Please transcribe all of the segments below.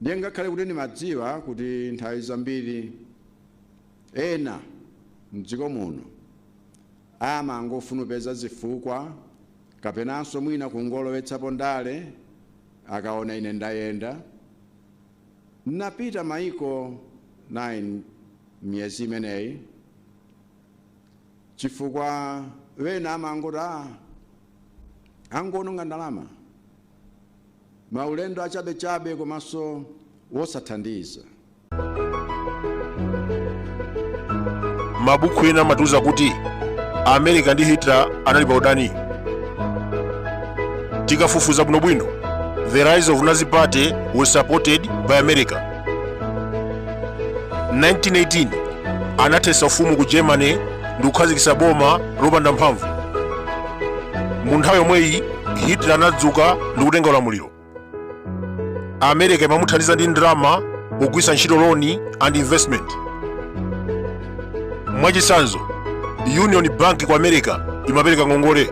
ndiye ngakhale kuti ndimadziwa kuti nthawi zambiri ena mdziko muno amangofuna kupeza zifukwa kapenanso mwina kungolowetsapo ndale akaona ine ndayenda napita maiko 9 miyezi imeneyi chifukwa wena amangoti angononga ndalama Maulendo achabechabe komanso wosathandiza. Mabuku ena amatiuza kuti Amerika ndi Hitler anali pa udani. Tikafufuza bwinobwino, the rise of Nazi Party was supported by America. 1918 anathetsa ufumu ku germany ndi kukhazikitsa boma lopanda mphamvu mu nthawi yomweyi hitler anadzuka ndi kutenga ulamuliro america imamuthandiza ndi ndalama pogwiritsa ntchito loan and investment mwachitsanzo union bank ku america imapereka ngongole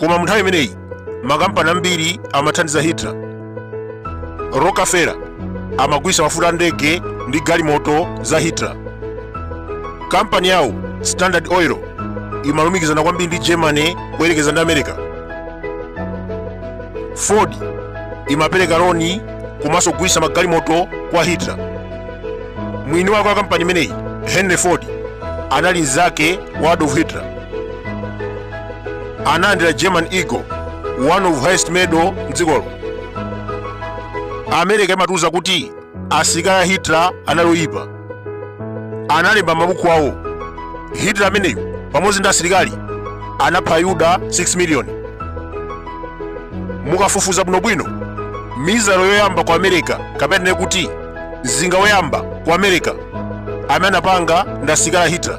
koma mu nthawi imeneyi makampani ambiri amathandiza hitler rockefeller amagulitsa mafuta a ndege ndi galimoto za hitler kampani yawo standard oil imalumikizana kwambiri ndi germany kuyerekeza ndi america ford imapereka loni komanso kugulitsa magalimoto kwa hitler mwini wake wa kampani imeneyi henry ford anali mnzake wa adolf hitler analandira german eagle one of highest medal mdzikolo america imatiuza kuti asilikali a hitler anali oyipa analemba mabuku awo hitler ameneyo pamodzi ndi asilikali anapha ayuda 6 miliyoni mukafufuza bwinobwino missile yoyamba ku america kapena ndinene kuti mzinga woyamba ku america amene anapanga ndi asilikali a hitler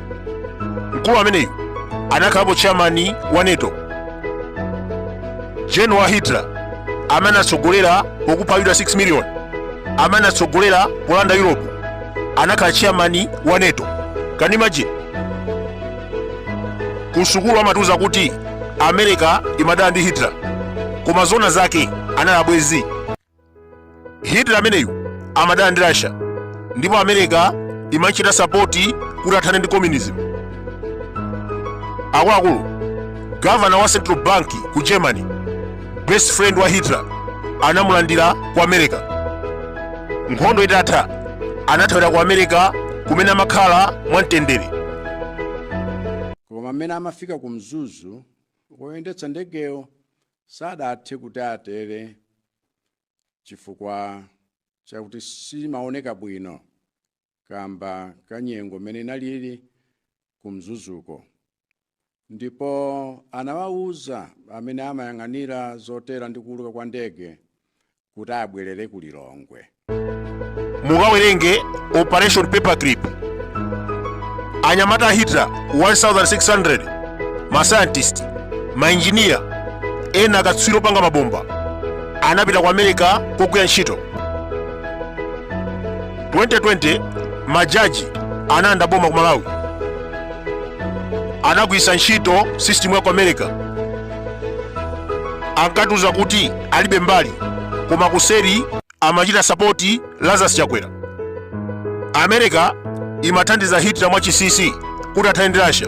mkulu ameneyu anakhalapo chairman wa nato general wa hitler amene anatsogolera pokupha ayuda 6 million amene anatsogolera polanda europe anakhala chairman wa nato can you imagine ku sukulu amatiuza kuti america imadana ndi hitler koma zona zake anali abwenzi hitler ameneyu amadana ndi russia ndipo america imachita sapoti kuti athane ndi communism akuluakulu gavana wa central bank ku germany best friend wa hitler anamulandira ku america nkhondo itatha anathawira ku america kumene amakhala mwamtendere koma mmene amafika ku mzuzu woyendetsa ndegeyo Sadathe kuti atere chifukwa chakuti simaoneka bwino kaamba ka nyengo m'mene inaliri ku Mzuzuko ndipo anawauza amene amayang'anira zotera ndi kuuluka kwa ndege kuti abwerere ku lilongwe mukawerenge operation paperclip anyamata a hitler 1600 masayantisti mainjiniya ena akatswiri opanga mabomba anapita ku america kukagwira ntchito 2020 majaji analanda boma ku malawi anagwiritsa ntchito system ya ku america ankatiuza kuti alibe mbali koma kuseri amachita sapoti lazarus chakwera america imathandiza hitler mwachisisi kuti athane ndi russia